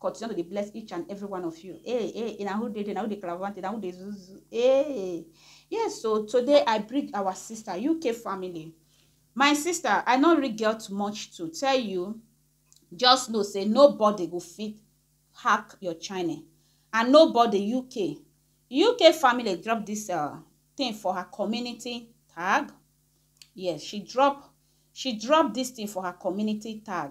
Continue to dey bless each and every one of you. Hey, eh, hey, eh, na who dey there, na who dey clavante, na who dey zuzu. Hey. Yes, so today I bring our sister, UK family. My sister, I no really get much to tell you. Just know, say nobody go fit hack your channel. And nobody UK. UK family drop this uh, thing for her community tag. Yes, she drop she drop this thing for her community tag.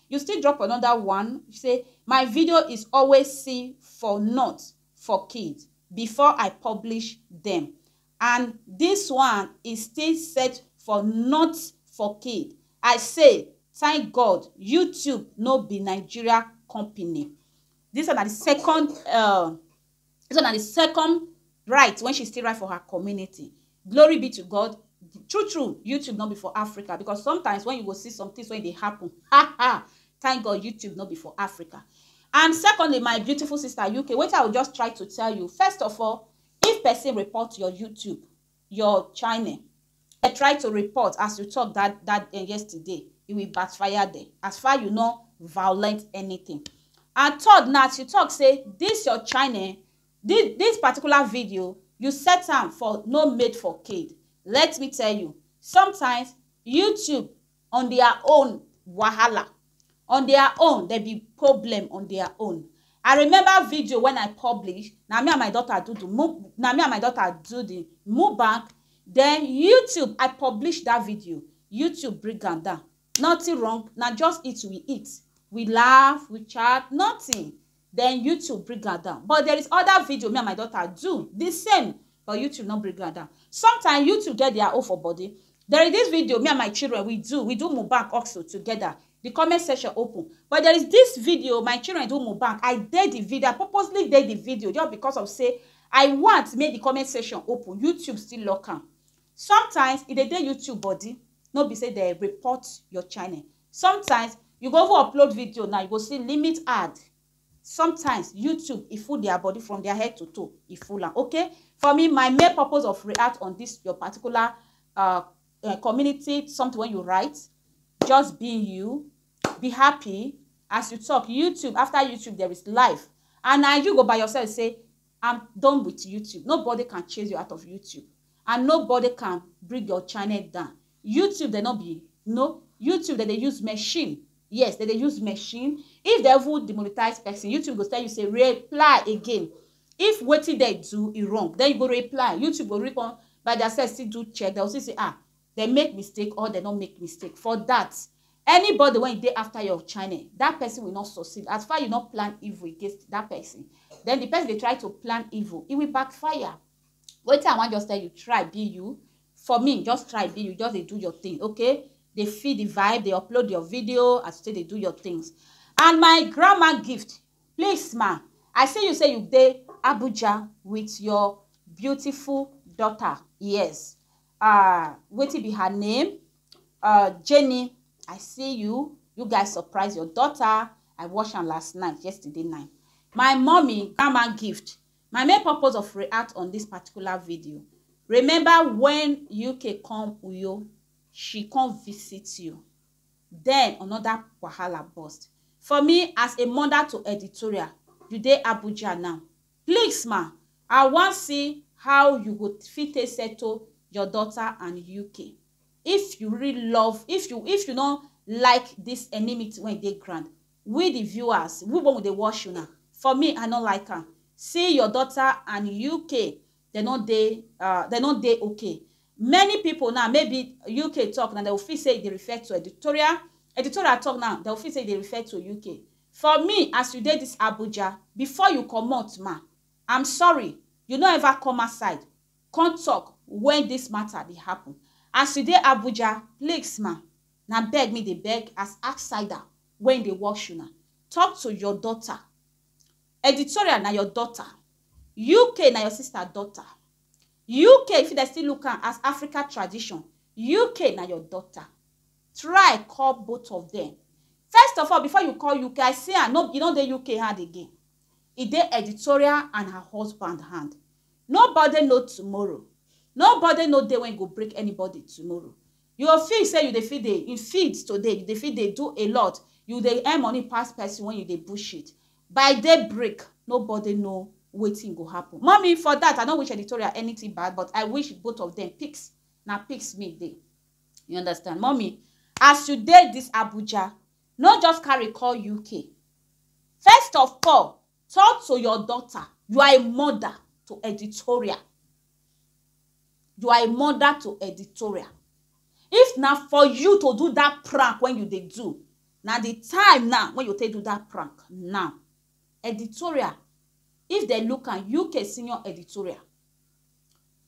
You still drop another one say my video is always see for not for kid before I publish them and this one is still set for not for kid I say thank God YouTube no be Nigeria company. This one na the second uh, Dis one na di second write wen she still write for her community. Glory be to God, true true YouTube no be for Africa because sometimes wen you go see some tins wey dey happen ha ha! Thank God YouTube no be for Africa. And secondly my beautiful sister UK wetin I go just try to tell you first of all if pesin report your YouTube your chine e try to report as you talk that that eh, yesterday e will backfire there as far you no violate anything and third na as you talk say this your chine this this particular video you set am for no made for kid let me tell you sometimes youtube on their own wahala on their own dem be problem on their own I remember video when I publish na me and my daughter do the mu na me and my daughter do the mukbang then YouTube I publish that video YouTube bring am down nothing wrong na just eat we eat we laugh we chat nothing then YouTube bring am down but there is other video me and my daughter do the same but YouTube no bring am down sometimes YouTube get their own for body there is this video me and my children we do we do Mohbad also together the comment section open but there is this video my children do Mohbad I did the video I purposely did the video just because of say I want make the comment section open YouTube still lock am sometimes e dey dey YouTube body no be say they report your channel Sometimes you go even upload video now you go see limit ad sometimes YouTube e full their body from their head to toe e full am okay for me my main purpose of react on this your particular uh, uh, community something when you write just be you be happy as you talk YouTube after YouTube there is life and na you go by yourself say I'm done with YouTube. Nobody can chase you out of YouTube. And nobody can bring your channel down. YouTube dem no be no YouTube dem dey use machine yes dem dey use machine if dem even demonetize person YouTube go tell you say reply again if wetin dem do e wrong then you go reply YouTube go really come by their self still do check dem go still say ah dem make mistake or dem no make mistake for that anybody when you dey after your channel that person will not succeed as far you not plan evil against that person then the person dey try to plan evil it will backfire Wetin I wan just tell you, try be you. For me, just try be you, just dey do your thing, okay? Dey feel the vibe, dey upload your video as you take dey do your things. And my grandma gift, please ma, I see you say you dey Abuja with your beautiful daughter, yes. Uh, wetin be her name? Uh, Jenny, I see you. You guys surprise your daughter. I watch am last night, yesterday night. My mommy, grandma gift, My main purpose of react on this particular video, remember when UK come Uyo, she come visit you. Then another wahala burst. For me, as a mother to editorial, you dey Abuja now. Please ma, I wan see how you go fit take settle your daughter and UK. If you really love, if you if you no like this enmity wey dey ground, We the viewers we wen we dey watch una for me I no like am see your daughter and UK dem no dey dem no dey ok many people now maybe UK talk now dem go feel say e dey refer to editorial editorial talk now dem go feel say e dey refer to UK for me as you dey this Abuja before you comot ma I'm sorry you no ever come outside come talk when this matter dey happen as you dey Abuja please ma. Na beg me dey beg as outsider wen dey watch una talk to your daughter Editorial na your daughter UK na your sister daughter UK fit dem still look am as Africa tradition UK na your daughter Try call both of dem First of all before you call UK I see am e no dey UK hand again E dey Editorial and her husband hand Nobody know tomorrow Nobody know day wen e go break anybody tomorrow You go feel say you dey fit dey in field today, you dey fit dey do a lot, you dey earn money pass person when you dey bullshit. By day break, nobody know wetin go happen. Mummy, for that, I no wish editorial anything bad, but I wish both of them pics, na pics me dey. You understand? Mummy, as you dey this Abuja, no just carry call UK. First of all, talk to your daughter, you are a mother to editorial. You are a mother to editorial. If na for you to do that prank when you dey do, na the time now when you take do that prank now. Editorial, if they look am, UK senior editorial.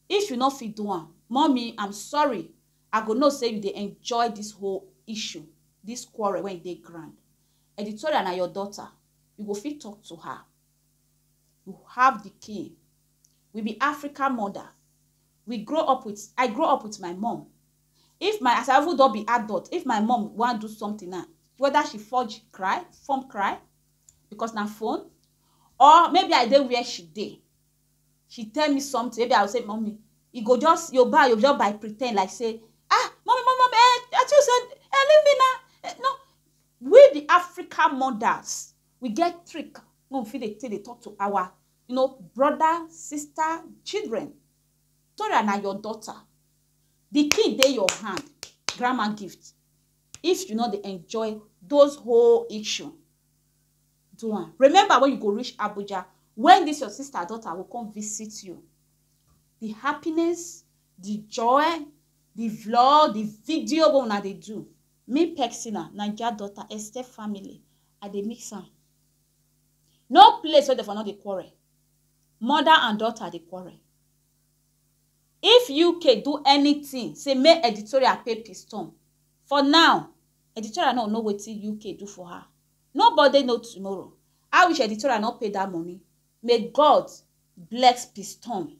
If you no fit do am, mommy, I'm sorry. I go know say you dey enjoy this whole issue, this quarrel when you dey grand. Editorial na your daughter. You go fit talk to her. You have the key We be African mother, we grow up with, I grow up with my mom. If my, as I even don be adult, if my mom wan do something now, whether she forge cry, form cry, because na phone, or maybe I dey where she dey, she tell me something, maybe I go say, mommy, you go just, you buy, you just by pretend like say, ah, mommy, mommy, mommy, eh, I tell you say, eh, leave me now. Eh, no, we the African mothers, we get trick when we fit dey take dey talk to our you know, brother, sister, children. Tora na your daughter. The key dey your hand, grandma gift. If you no dey enjoy those whole issue, do am. Remember when you go reach Abuja, when this your sister daughter will come visit you. The happiness, the joy, the vlog, the video wey una dey do. Me Pexina, Naija daughter, Esther family, I dey mix am. No place wey dem for no dey quarrel. Mother and daughter dey quarrel. If UK do anything say make editorial pay piston, for now, editorial no go know wetin UK do for her. Nobody know tomorrow. I wish editorial no pay dat money. May God bless piston.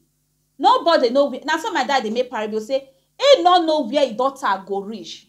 Nobody know where, na so my dad dey make parable say he no know where e daughter go reach.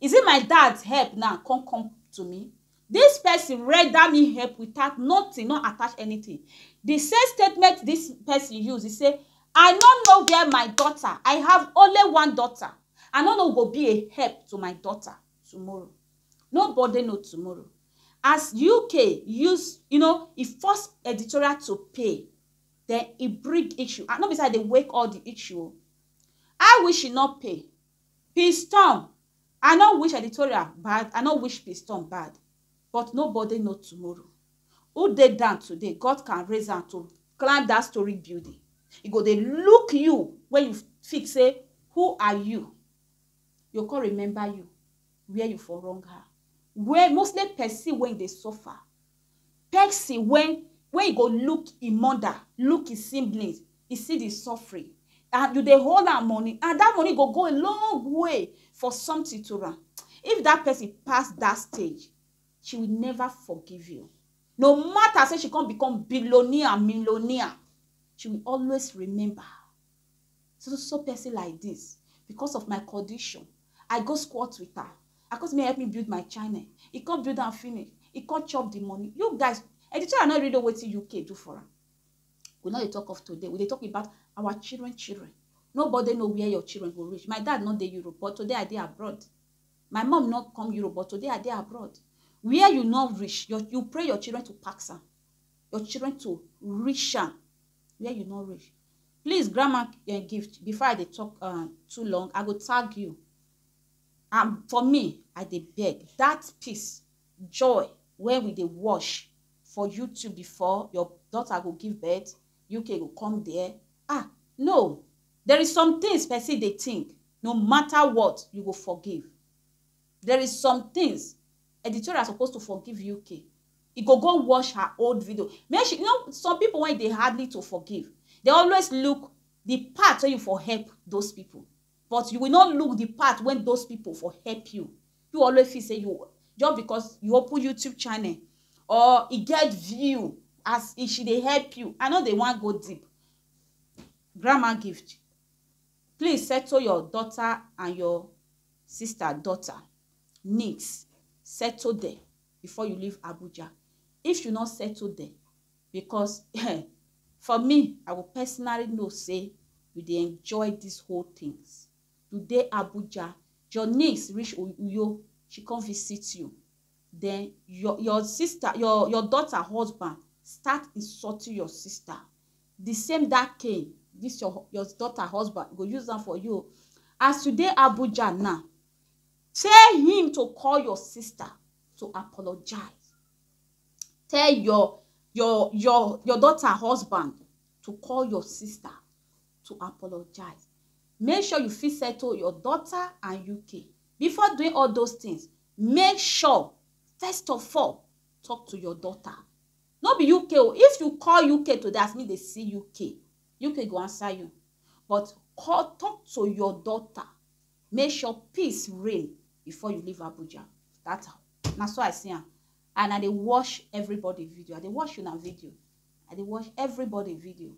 Is it my dad's help now come come to me? This person render me help without nothing, no attach anything. The same statement this person use, he say, I no know where my daughter, I have only one daughter. I no know go be a help to my daughter tomorrow. Nobody know tomorrow. As UK use, you know, e force editorial to pay, then e bring issue. And no be say I dey wake all the issue. I wish e no pay. Peaceturm I no wish editorial bad I no wish peaceturm bad but nobody know tomorrow who dey down today God can raise am to climb that story building e go dey look you wey you fit say who are you e go come remember you where you for wrong her where mostly person wey dey suffer Pesin wey wey e go look im mother, look im siblings, e see di suffering and you dey hold am money and dat money go go a long way for something to am. If dat pesin pass dat stage, she will never forgive you. No matter sey she come become billionaire, millionaire, she will always remember. So so person like this because of my condition I go squat with her I come say make help me build my channel e come build am finish e come chop the money you guys and the channel no really know wetin UK do for am we no dey talk of today we dey talk about our children children nobody know where your children go reach my dad no dey Europe but today I dey abroad my mom no come Europe but today I dey abroad where you no reach your, you pray your children to pass am your children to reach am where you no reach please grandma um gift before i dey talk um too long i go tag you and for me i dey beg that peace joy wey we dey watch for youtube before your daughter go give birth uk go come there ah no there is some things person dey think no matter what you go forgive There is some things editorial suppose to forgive UK e go go watch her old video make she you know some people when e dey hardly to forgive they always look the part wey you for help those people but you will not look the part when those people for help you you always feel say you just because you open youtube channel or e get view as e she dey help you i no dey wan go deep grandma gift Please settle your daughter and your sister daughter needs settle there before you leave Abuja if you no settle there because eh, for me I will personally know say you dey enjoy these whole things you dey Abuja your niece reach Uyo she come visit you Then your your sister your your daughter husband start insulting your sister the same that cane this your your daughter husband go use am for you o as you dey Abuja now tell him to call your sister to apologize tell your your your your daughter husband to call your sister to apologize make sure you fit settle your daughter and UK before doing all those things Make sure first of all talk to your daughter no be UK o if you call UK today as me dey see UK UK go answer you but call talk to your daughter make sure peace reign before you leave Abuja that na so I see am and I dey watch everybody video I dey watch una video I dey watch everybody video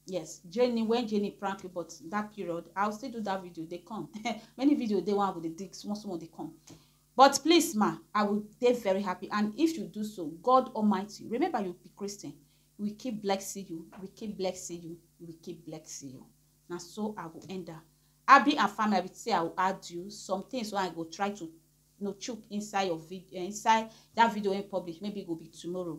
yes jenny when jenny prank you but that period i'll still do that video they come many video they want with the digs small small they come but please ma i will be very happy and if you do so god almighty remember you be christian we keep blessing you we keep blessing you we keep blessing you Now so i will end up abi and family i will say i will add you some things wey i go try to you know chook inside your video eh, inside that video in public maybe it will be tomorrow